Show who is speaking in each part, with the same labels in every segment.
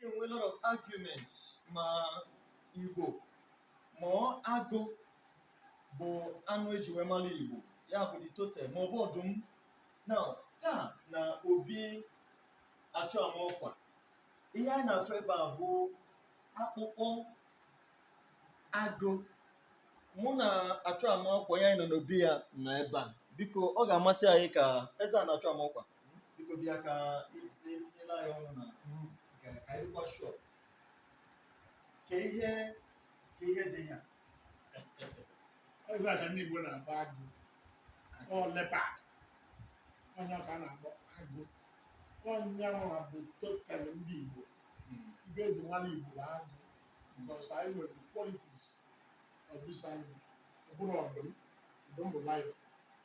Speaker 1: enwe a lot of arguments ma igbo ma ọ agụ bụ anụ eji wee mara igbo ya bụ the totem ma ọ bụ ọdụm na taa na obi achụ ama ọkwa ihe anyị na-afụ ebe a bụ akpụkpọ agụ mụ na achụ ama ọkwa onye anyị nọ n'obi ya na ebe a biko ọ ga-amasị anyị ka eze ana achụ ama ọkwa biko bịa ka etinyela ya ọnụ na ka anyị dịkwa sure ka ihe ka ihe dị ya
Speaker 2: ife a ka ndị Igbo na-akpọ agụ ọ leopard ọ nya ka a na-akpọ agụ ọ nya nwa bụ totem ndị Igbo hmm. ife eji mara Igbo bụ agụ because anyị nwere qualities of this animal ọ bụrọ ọdụm ọdụm bụ lion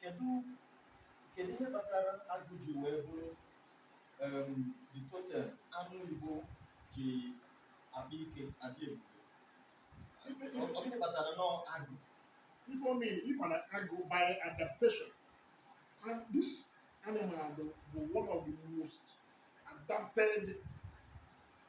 Speaker 1: kedu ihe kpatara agụ ji wee bụrụ the totem anụ igbo ji akpa ike adị ebube ọ gịnị kpatara na ọ agụ ife
Speaker 2: mere na ọ agụ by adaptation and this animal bụ one of the most adapted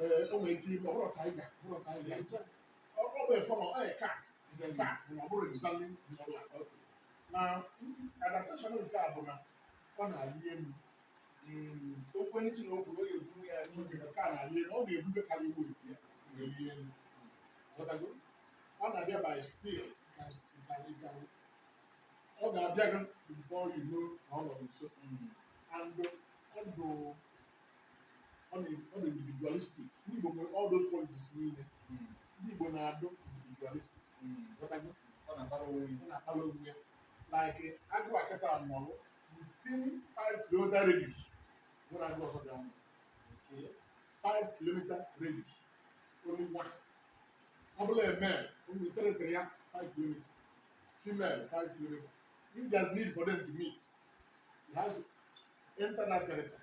Speaker 2: ee o nwere ike ịbụ ọ bụrọ tiger ọ bụrọ tiger ọ ọ bụ a form of cat it's a cat but na ọ bụrọ exactly na adaptation nke a bụ na ọ na-arị elu
Speaker 1: okwu ntị na okwu oge buru ya n'oge nke a na-arị
Speaker 2: elu ọ na-ebu ife karị weight ya na-arị elu Ghọtago? ọ na-abịa by stealth ọ ga-abịa gị before you know na ọ nọ nso and ọ bụ ọ dị ọ dị individualistic ndị Igbo nwere all those qualities niile Mm. ndị Igbo na-adụ individualistic Mm. ghọtago Ọ na-akpara onwe ya. ọ na-akpara onwe ya like agụ a kịta nọrọ within 5 kilometer radius nwerọ agụ ọzọ bịa nọrọ Okay. 5 kilometer radius only one ọ bụrụ a male only territory ya 5 kilometer female 5 kilometer if there's need for them to meet he has to enter that territory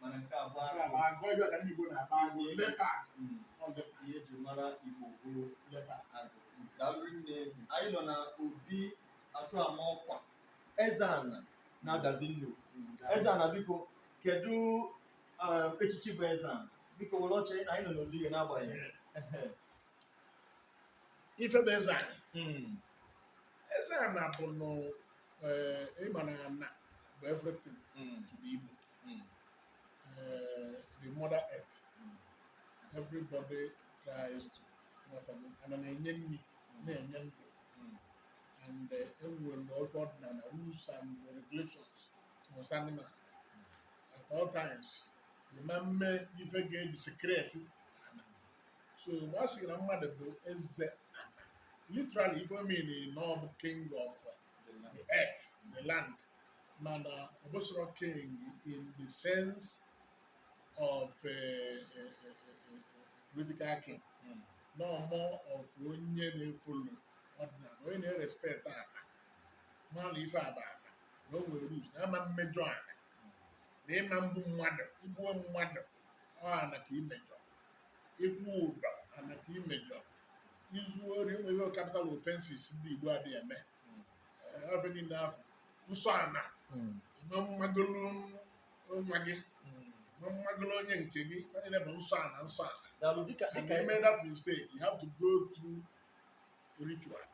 Speaker 1: mana nke a bụ Nke a bụ agụ agụ ife a ka
Speaker 2: ndị Igbo na-akpọ agụ leopard Mm, ọ leopard
Speaker 1: ihe eji mara igbo bụ leopard agụ daalụ rinne anyị nọ na obi achụama ọkwa eze ana na Adazi Nnukwu eze ana biko kedu um, echichi bụ eze ana biko were ọchị anyị nọ n'obi gị
Speaker 2: n'agbanyeghị ife bụ eze ana Mm, eze ana bụ nụ ịma na ana bụ everything mm, to ndị Igbo mm. uh, the mother earth mm. everybody tries to ana na-enye nri na-enye ndụ and enwere eh, otu ọdịnala rules and regulations concerning man at all times ịma mme ife ga-edesecrate so mgbe a sịrị na mmadụ bụ eze literally ife ọ mean na ọ bụ king of the earth the land mana ọ bụsịrọ king in the sense of uh, uh, uh, uh, political king Mm. no more of onye na-efolo ọdịnala onye na-erespect ana mana ife a bụ ana na o nwere rules na ama mmejọ ana na ịma mgbu mmadụ igbuo mmadụ ọ ana ka imejọ ịkwụ ụdọ ana ka imejọ izu ori enwere capital offenses ndị Igbo adị eme Eh, ife niile afụ nsọ ana Mm. eme mmagolu nwa gị Mm. eme mmagolu onye nke gị ọ niile bụ nsọ ana nsọ ana daalụ dịka and
Speaker 1: dịka you made that
Speaker 2: mistake you have to go through ritual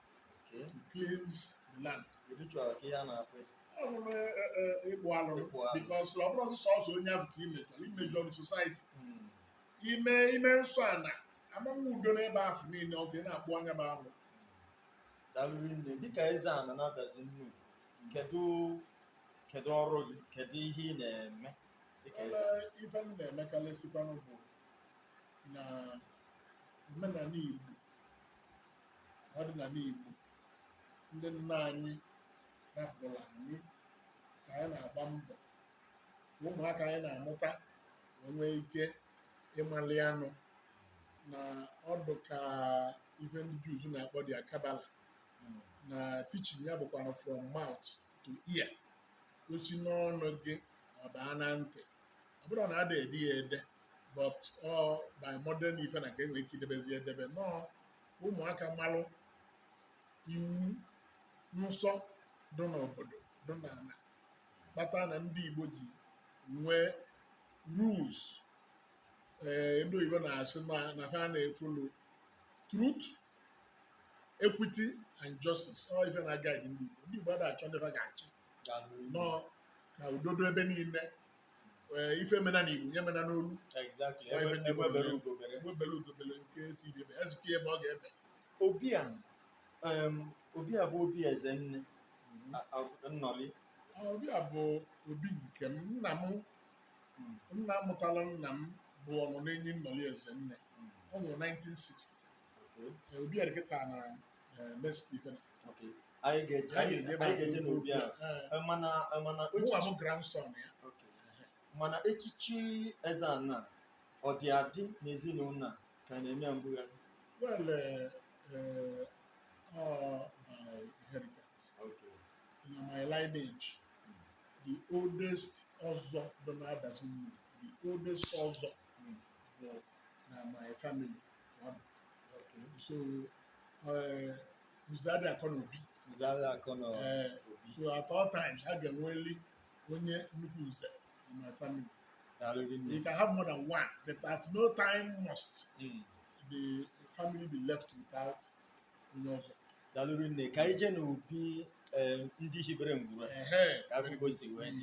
Speaker 2: Okay. to cleanse the land ritual ka ihe
Speaker 1: a na-akpọ ọ bụ na eh,
Speaker 2: eh, ịkpụ alụ Ịkpụ alụ. because ọ bụrọ sọsọ onye ahụ ka imejọ imejọ society Mm. ime ime nsọ ana ama nwe udo n'ebe afụ niile ọ dị na akpụa nya bụ
Speaker 1: alụ daalụ rinne dịka eze ana na Adazi Nnukwu kedu kedu ọrụ gị kedu ihe ị na-eme dịka eze Ee, ife m
Speaker 2: na-emekarịsịkwanụ bụ na omenala Igbo ọdịnala Igbo ndị nna anyị rapụrụ anyị ka anyị na-agba mbọ ka ụmụaka anyị na-amụta wee nwee ike ịmali anụ na ọ dị ka ife ndị Jews na-akpọ their Kabbalah na teaching ya bụkwana from mouth to ear osi n'ọnụ gị ọ baa na ntị ọ bụrụ na ada ede ya ede but ọ by modern ife na ka enwere ike idebezi edebe nọọ ka ụmụaka malụ iwu nsọ dị n'obodo dị n'ana kpata na ndị Igbo ji nwee rules ee eh, ndị oyibo na-asị na fa na-efolo truth equity and justice ọ ife na guide ndị Igbo ndị Igbo ada achọ ndị fa ga-achị nọ ka udo dị ebe niile eh, ife mena na Igbo nya mena n'olu egbe bere ugo bere nke sị ibe ezike ebe ọ ga-ebe ọbịa
Speaker 1: obi a bụ obi Ezenne Nnọli
Speaker 2: obi a bụ obi nke m nna m nna mụtara nna m bụ ọnụ n'enyi Nnọli Ezenne ọ nwụrụ 1960 obi a dị kịta na Stephen
Speaker 1: anyị ga-eje n'obi a mana bụ grandson
Speaker 2: ya mana
Speaker 1: echichi Ezeana ọ dị adị n'ezinụlọ a ka a na-eme ya mbugharị
Speaker 2: Well, uh, uh, all by inheritance. Okay. Na my lineage, the oldest ọzọ bụ na Adazi, the oldest ọzọ mm. bụ na my family. Okay. So, uh, Uzadi Akonobi. Uzadi Akonobi. Uh, so at all times, a ga-enweli onye nnukwu nze in my family. You can have more than one, but at no time must mm. the family be left without onye ọzọ. Daalụ rinne
Speaker 1: ka anyị jee n'obi eh, ndị hibere ngwuru ka a fụ ka o si wee dị.